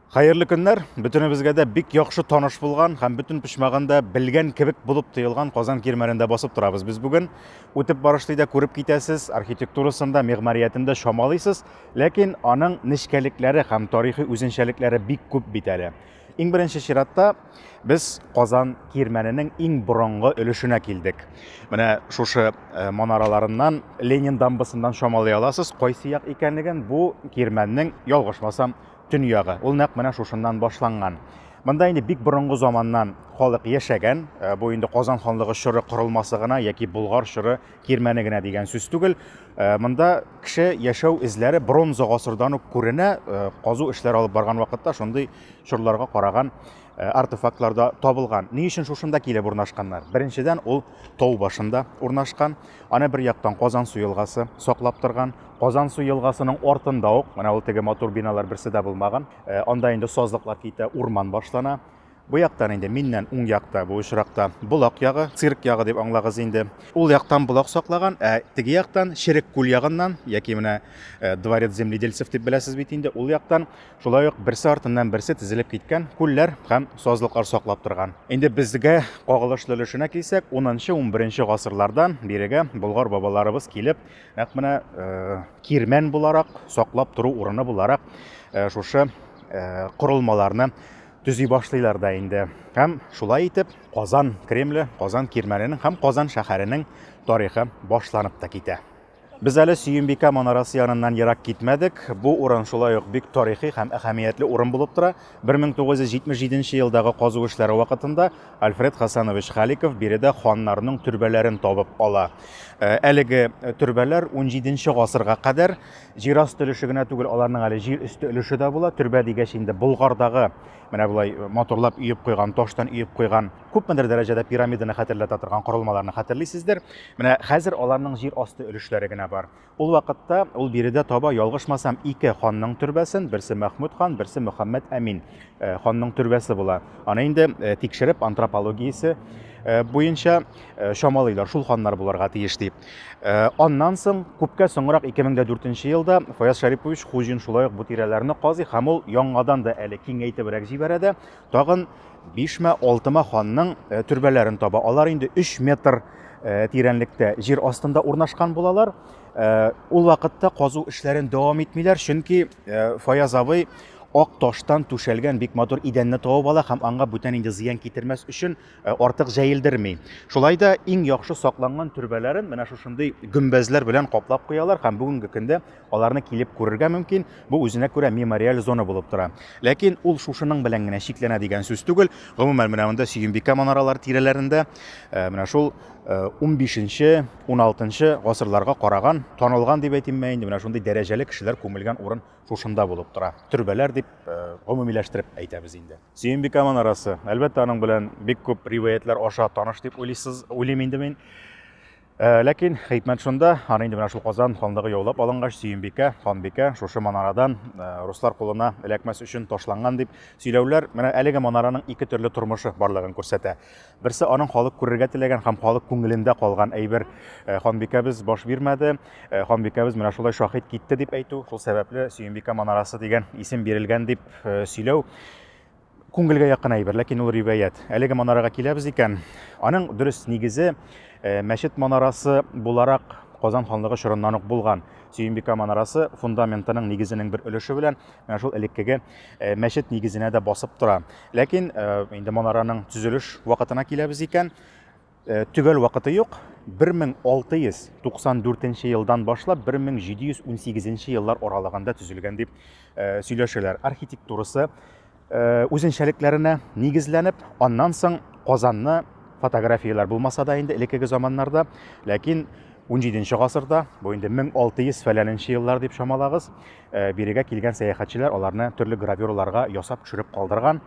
Хәерле көннәр! Бөтенебезгә дә бик яхшы таныш булган һәм бөтен почмагында белгән кебек булып тоелган Казан Кирмәнендә басып торабыз без бүген. Үтеп барышлый да күреп китәсез, архитектурасында, мигъмариятендә чамалыйсыз, ләкин аның нечкәлекләре һәм тарихи үзенчәлекләре бик күп бит әле. Иң беренче чиратта без Казан Кирмәненең иң борынгы өлешенә килдек. Менә шушы э, манараларыннан Ленин дамбасыннан чамалый аласыз, кайсы як икәнлеген бу Кирмәннең ялгышмасам Төньягы, ул нәкъ менә шушыннан башланган. Монда инде бик борынгы заманнан халык яшәгән. Э, бу инде Казан ханлыгы чоры корылмасы гына яки Болгар чоры кирмәне генә дигән сүз түгел. Э, монда кеше яшәү эзләре бронза гасырдан ук күренә. Э, казу эшләре алып барган вакытта шундый чорларга караган артефактлар да табылган. Ни өчен шушында килеп урнашканнар? Беренчедән, ул тау башында урнашкан. Аны бер яктан Казан суелгасы саклап торган. Казансу елгасының артында ук, менә ул теге матур биналар берсе дә булмаган, э, анда инде сазлыклар китә, урман башлана. Бу яктан инде миннән уң якта, бу очракта Болак ягы, цирк ягы дип аңлагыз инде. Ул яктан Болак саклаган, ә теге яктан Черек күл ягыннан, яки менә э, Дворец земледельцев дип беләсез бит инде, ул яктан шулай ук берсе артыннан берсе тезелеп киткән күлләр һәм сазлыклар саклап торган. Инде безгә кагылышлы өлешенә килсәк, 10-11 гасырлардан бирегә болгар бабаларыбыз килеп, Нәкъ менә кирмән буларак, саклап тору урыны буларак шушы корылмаларны төзи башлыйлар да инде. Һәм шулай итеп Казан Кремле, Казан кирмәненең һәм Казан шәһәренең тарихы башланып та китә. Без әле Сөембикә манарасы яныннан ерак китмәдек. Бу урын шулай ук бик тарихи һәм әһәмиятле урын булып тора. 1977 нче елдагы казу эшләре вакытында Альфред Хасанович Халиков биредә ханнарның төрбәләрен табып ала. Э, әлеге төрбәләр 17 гасырга кадәр җир асты өлеше генә түгел, аларның әле җир өсте өлеше дә була. Төрбә дигәч инде Болгардагы менә болай э, моторлап өеп куйган, таштан өеп куйган, күпмедер дәрәҗәдә пирамиданы хәтерләтә торган корылмаларны хәтерлисездер. Менә хәзер аларның җир асты өлешләре генә бар. Ул вакытта ул биредә таба, ялгышмасам, ике ханның төрбәсен, берсе Мәхмүд хан, берсе Мөхәммәд Әмин э, ханның төрбәсе була. Аны инде э, тикшереп антропологиясе э, буенча чамалыйлар, шул ханнар буларга тиеш дип. Аннан соң күпкә соңрак 2004 елда Фаяз Шарипович Хуҗин шулай ук бу тирәләрне казый һәм ул яңадан да әле киңәйтебрәк җибәрә дә, Тагын бишмә, алтыма ханның э, төрбәләрен таба. Алар инде 3 метр э, тирәнлектә җир астында урнашкан булалар. Э, ул вакытта казу эшләрен дәвам итмиләр, чөнки Фаяз абый ак таштан түшәлгән бик матур идәнне табып ала һәм аңа бүтән инде зыян китермәс өчен Э, артык җәелдерми. Шулай да иң яхшы сакланган төрбәләрен менә шушындый гөмбәзләр белән каплап куялар һәм бүгенге көндә аларны килеп күрергә мөмкин. Бу үзенә күрә мемориаль зона булып тора. Ләкин ул шушының белән генә чикләнә дигән сүз түгел. Гомумән менә монда Сөембикә манаралар тирәләрендә э, менә шул 15-16 э, гасырларга караган, танылган дип әйтимме инде, менә шундый дәрәҗәле кешеләр күмелгән урын шушында булып тора. Төрбәләр дип гомумиләштереп әйтәбез инде. Сөембикә манарасы. Әлбәттә, аның белән бик күп риваятләр аша таныш дип уйлыйсыз, уйлыйм инде мин. Э, ләкин хикмәт шунда, аны инде менә шул Казан ханлыгы яулап алынгач, Сөембикә, ханбикә шушы манарадан э, руслар кулына эләкмәс өчен ташланган дип сөйләүләр менә әлеге манараның ике төрле тормышы барлыгын күрсәтә. Берсе аның халык күрергә теләгән һәм халык күңелендә калган әйбер э, ханбикәбез баш бирмәде, э, ханбикәбез менә шулай шахид китте дип әйтү, шул сәбәпле Сөембикә манарасы дигән исем бирелгән дип э, сөйләү күңелгә якын әйбер, ләкин ул риваять. Әлеге манарага киләбез икән, аның дөрес нигезе мәчет манарасы буларак Казан ханлыгы чорыннан ук булган. Сөембикә манарасы фундаментының нигезенең бер өлеше белән менә шул элеккеге Э, мәчет нигезенә дә басып тора ләкин э, инде монараның төзелеш вакытына киләбез икән э, төгәл вакыты юк 1694 елдан башлап 1718 еллар аралыгында төзелгән дип сөйләшәләр архитектурасы үзенчәлекләренә нигезләнеп аннан соң казанны фотографияләр булмаса да инде элеккеге заманнарда ләкин 17 гасырда бу инде 1600 фәләненче еллар дип чамалагыз Э, бирегә килгән сәяхәтчеләр аларны төрле гравюраларга ясап төшереп калдырган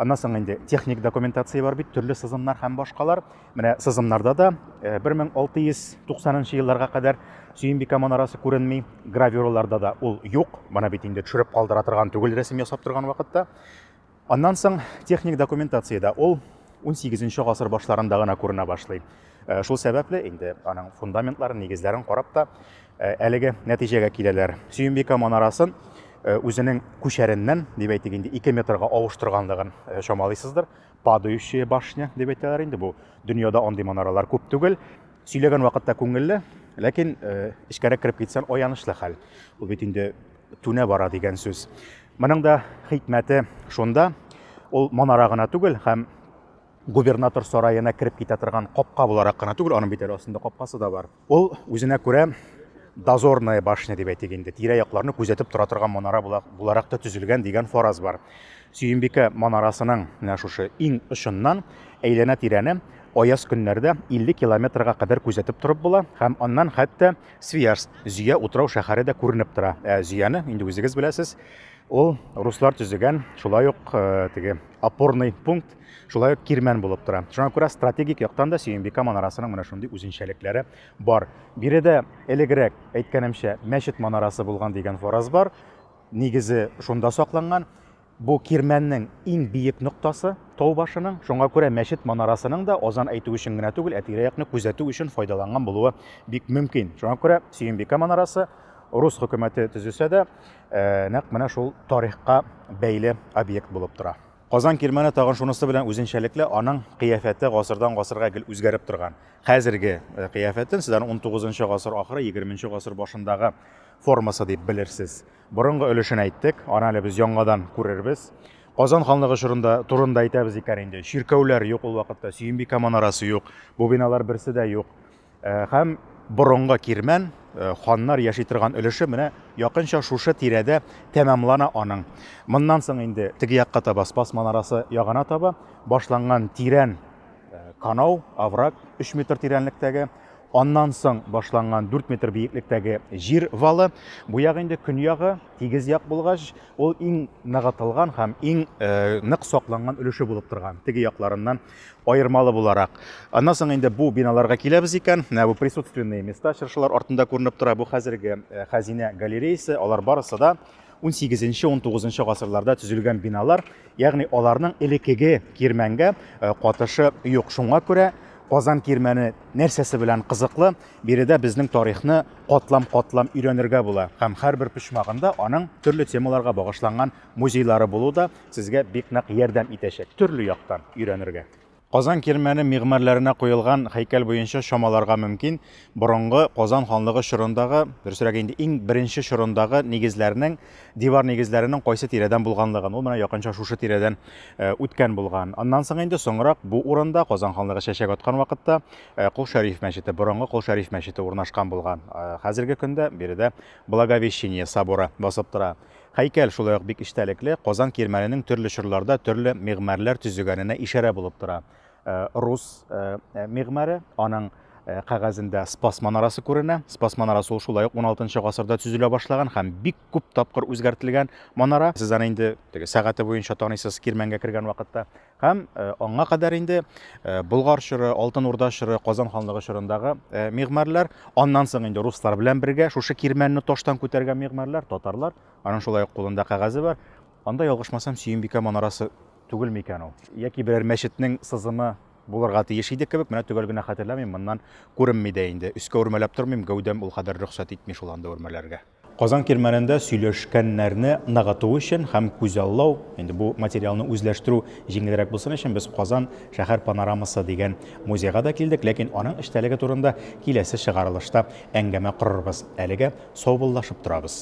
аннан соң инде техник документация бар бит төрле сызымнар һәм башкалар менә сызымнарда да 1690 э, елларга кадәр сөембикә манарасы күренми гравюраларда да ул юк моны бит инде төшереп калдыра торган түгел рәсем ясап торган вакытта Аннан соң техник документациядә ул 18 гасыр башларында гына күренә башлый. Э, шул сәбәпле инде аның фундаментларын, нигезләрен карап та э, әлеге нәтиҗәгә киләләр. Сөембикә манарасын э, үзенең күчәреннән, дип әйтик инде, 2 метрга авыштырганлыгын чамалыйсыздыр. Падающая башня дип әйтәләр инде бу. Дөньяда андый манаралар күп түгел. Сөйләгән вакытта күңелле, ләкин эчкәрәк кереп китсәң аянычлы хәл. Ул бит инде түнә бара дигән сүз. Моның да хикмәте шунда, ул манара гына түгел һәм губернатор сараена кереп китә торган капка буларак кына түгел, аның бит әле астында капкасы да бар. Ул үзенә күрә дозорная башня дип әйтик инде, тирә-якларны күзәтеп тора торган манара буларак та төзелгән дигән фараз бар. Сөембикә манарасының менә шушы иң очыннан әйләнә-тирәне аяз көннәрдә 50 километрга кадәр күзәтеп торып була һәм аннан хәтта Свияжск, Зөя утрау шәһәре дә күренеп тора. Ә Зөяне, инде үзегез беләсез, ул руслар төзегән, шулай ук э, теге опорный пункт, шулай ук кирмән булып тора. Шуңа күрә стратегик яктан да Сөембика манарасының менә шундый үзенчәлекләре бар. Биредә элегрәк әйткәнемчә мәчет манарасы булган дигән фараз бар. Нигезе шунда сакланган. Бу кирмәннең иң биек ноктасы, тау башының, шуңа күрә мәчет манарасының да азан әйтү өчен генә түгел, ә тирә-якны күзәтү өчен файдаланган булуы бик мөмкин. Шуңа күрә Сөембикә манарасы рус хөкүмәте төзесә дә, нәкъ менә шул тарихка бәйле объект булып тора. Казан кирмәне тагын шунысы белән үзенчәлекле, аның кыяфәте гасырдан-гасырга гел үзгәреп торган. Хәзерге кыяфәтен сез аны унтугызынчы гасыр ахыры, егерменче гасыр башындагы формасы дип белерсез. Борынгы өлешен әйттек, аны әле без яңадан күрербез. Казан ханлыгы чорында турында әйтәбез икән инде. Чиркәүләр юк ул вакытта, Сөембикә манарасы юк, бу биналар берсе дә юк. Э, һәм борынгы кирмән э, ханнар яши торган өлеше менә якынча шушы тирәдә тәмамлана аның. Моннан соң инде теге якка таба Спас манарасы ягына таба башланган тирән э, канау, овраг 3 метр тирәнлектәге Аннан соң башланган 4 метр биеклектәге җир валы. Бу ягы инде көньягы, тигез як булгач, ул иң ныгытылган һәм иң э, нык сакланган өлеше булып торган. Теге якларыннан аермалы буларак. Аннан соң инде бу биналарга киләбез икән. Менә бу присутственные места чыршылар артында күренеп тора. Бу хәзерге э, хәзинә галереясы. Алар барысы да Унсигезенче-унтугызынчы гасырларда төзелгән биналар, ягъни аларның элекеге кирмәнгә катышы юк. Шуңа күрә Казан кирмәне нәрсәсе белән кызыклы? Биредә безнең тарихны катлам-катлам өйрәнергә була һәм һәрбер почмагында аның төрле темаларга багышланган музейлары булу да сезгә бик нык ярдәм итәчәк төрле яктан өйрәнергә. Казан Кирмәне мигъмарләренә куелган һәйкәл буенча чамаларга мөмкин, борынгы Казан ханлыгы чорындагы, дөресрәге инде, иң беренче чорындагы нигезләрнең, дивар нигезләренең кайсы тирәдән булганлыгын. Ул менә якынча шушы тирәдән үткән булган. Аннан соң инде соңрак бу урында, Казан ханлыгы чәчәк аткан вакытта, Кол Шәриф мәчете, борынгы Кол Шәриф мәчете урнашкан булган. Хәзерге көндә биредә Благовещение соборы басып тора. Һәйкәл шулай ук бик эчтәлекле, Казан кирмәненең төрле чорларда төрле мигъмәрләр төзегәненә ишарә булып тора. Э, рус э, э, мигъмәре, аның Э, кәгазендә Спас манарасы күренә. Спас манарасы ул шулай ук 16 гасырда төзелә башлаган һәм бик күп тапкыр үзгәртелгән манара. Сез аны инде теге сәгате буенча таныйсыз Кирмәнгә кергән вакытта. Һәм аңа кадәр инде Болгар чоры, Алтын Урда чоры, Казан ханлыгы чорындагы мигмарлар, аннан соң инде руслар белән бергә шушы кирмәнне таштан күтәргән мигмарлар, татарлар, аның шулай ук кулында кәгазе бар. Анда ялгышмасам, Сөембикә манарасы түгел микән ул? Яки берәр мәчетнең сызымы булырга тиеш иде кебек, менә төгәл генә хәтерләмим, моннан күренми дә инде. Өскә үрмәләп тормыйм, гәүдәм ул кадәр рөхсәт итми шул анда үрмәләргә. Казан Кирмәнендә сөйләшкәннәрне ныгыту өчен һәм күзаллау, инде бу материалны үзләштерү җиңелрәк булсын өчен, без Казан шәһәр панорамасы дигән музейга да килдек, ләкин аның эчтәлеге турында киләсе чыгарылышта әңгәмә корырбыз. Әлегә саубуллашып торабыз.